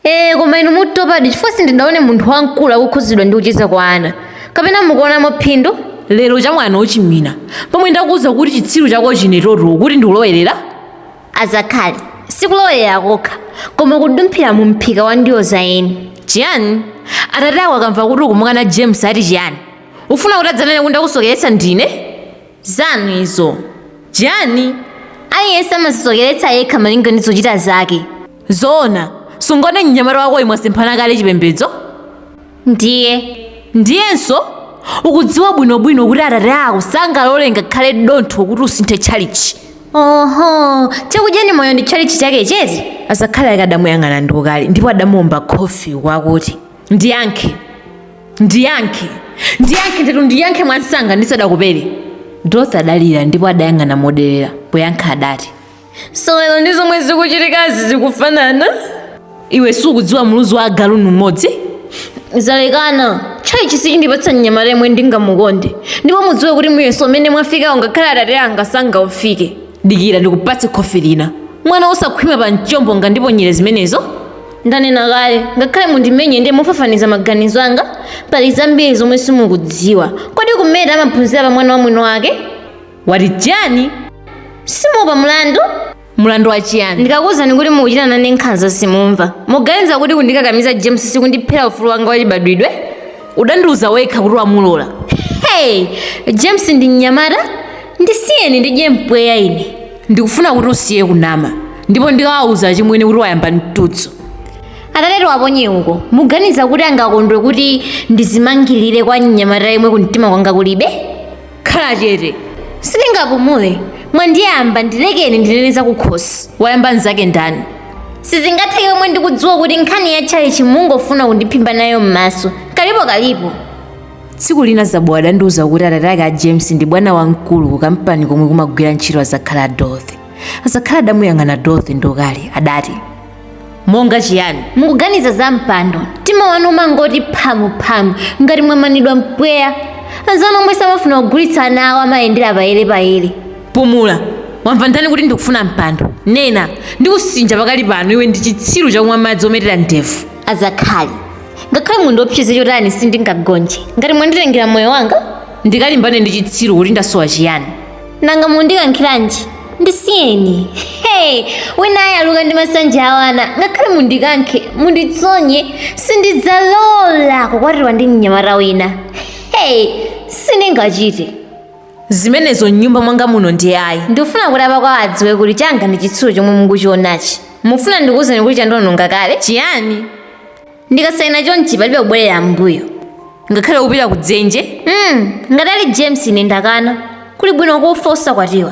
ee koma inu mutopadi chifukwa sindidaonepo munthu wamkulu akukhudzidwa ndi kucheza kwa ana kapena mukuonamo phindu lero chamwana ochimwina pomwe ndakuwuza kuti chitsiru chako chinetoto kuti ndikulowerera azakhali sikulowerera kokha koma kudumphira mu mphika wa ndiwo za eni chiyani atate ako akamva kuti ukumukana james ati chiyani ufuna kuti adzanene kuti ndakusokeretsa ndine zanu izo chiyani aliyense amazisokeretsa yekha malinga ndi zochita zake Zoona. Sungoona mnyamata wakoyu mwasemphana kale chipembedzo? Ndiye. Ndiyenso ukudziwa bwinobwino kuti atate ako sangalole ngakhale dontho kuti usinthe tchalichi. Oho, chakudyani moyo ndi tchalichi chake chete? Azakhali ake adamuyang'ana ndi ukali ndipo adamuomba khofi kwakuti, Ndiyankhe. Ndiyankhe. Ndiyankhe ndithu ndiyankhe mwamsanga ndisadakupere. Dorothy adalira ndipo adayang'ana moderera. Poyankha adati. sewero ndi zomwe zikuchitikazi zikufanana iwe sukudziwa muluzi wa agalu ngumodzi zalekana tchalichi sichindipatsa mnyamata yemwe ndingamukonde ndipo mudziwe kuti muyeso umene mwafikawo ngakhale atate anga sangaufike dikira ndikupatse khofi lina mwana osakhwima pa mchombo ungandiponyere zimenezo ndanena kale ngakhale mundimenye ndiye mufafaniza maganizo anga pali zambiri zomwe simukudziwa kodi kumeta amaphunzira pa mwana wa mwini wake wati chiyani simuopa mlandu mlandu wa chiyani ndikakuwuzani kuti mukuchita nane nkhanza simumva muganiza kuti kundikakamiza james sikundiphera ufulu wanga wachibadwidwe udandiuza wekha kuti wamulola hey james ndi mnyamata ndisiyeni ndidye mpweya ine ndikufuna kuti usiye kunama ndipo ndikawawuza achimwene kuti wayamba mtudzu atatewo aponye uko muganiza kuti angakondwe kuti ndizimangirire kwa mnyamata yemwe kumtima kwanga kulibe khala chete sindingapumule mwandiyamba ndilekeni ndinene zakukhosi wayamba mnzake ndani sizingatheke zomwe ndikudziwa kuti nkhani ya tchalichi mungofuna kundiphimba nayo m'maso kalipo kalipo tsiku lina zabowa adandiuza kuti atate ake a james ndi bwana wamkulu ku kampani komwe kumagwira ntchito azakhali a dorothy azakhali adamuyang'ana dorothy ndi ukali adati monga chiyani mukuganiza za mpando mtima wanu umangoti phamuphamu ngati mwamanidwa mpweya anzanu omwe samafuna kugulitsa ana awo amayendera payere payere pumula wamva kwa ndani kuti ndikufuna mpando nena ndikusinja pakali pano iwe ndi chitsiru chakumwa madzi ometera ndevu azakhali ngakhale mundiopseze chotani sindingagonje ngati mwanditengera moyo wanga ndikalimbane ndi chitsiru kuti ndasowa chiyani nanga mundikankhiranji ndisiyeni hey wina ayaluka ndi masanja awana ngakhale mundikankhe munditsonye sindidzalola kukwatiwa ndi mnyamata wina hey sindingachite zimenezo mnyumba mwanga muno ndiye ayi ndikufuna kuti apakwawa adziwe kuti changa ndi chitsiru chomwe mukuchionachi mufuna ndikuwuzeni kuti chandononga kale chiyani ndikasaina chonchi palibe kubwerera m'mbuyo ngakhale kupita ku dzenje mm, ngati ali james ine ndakana kuli bwino kufa usakwatiwa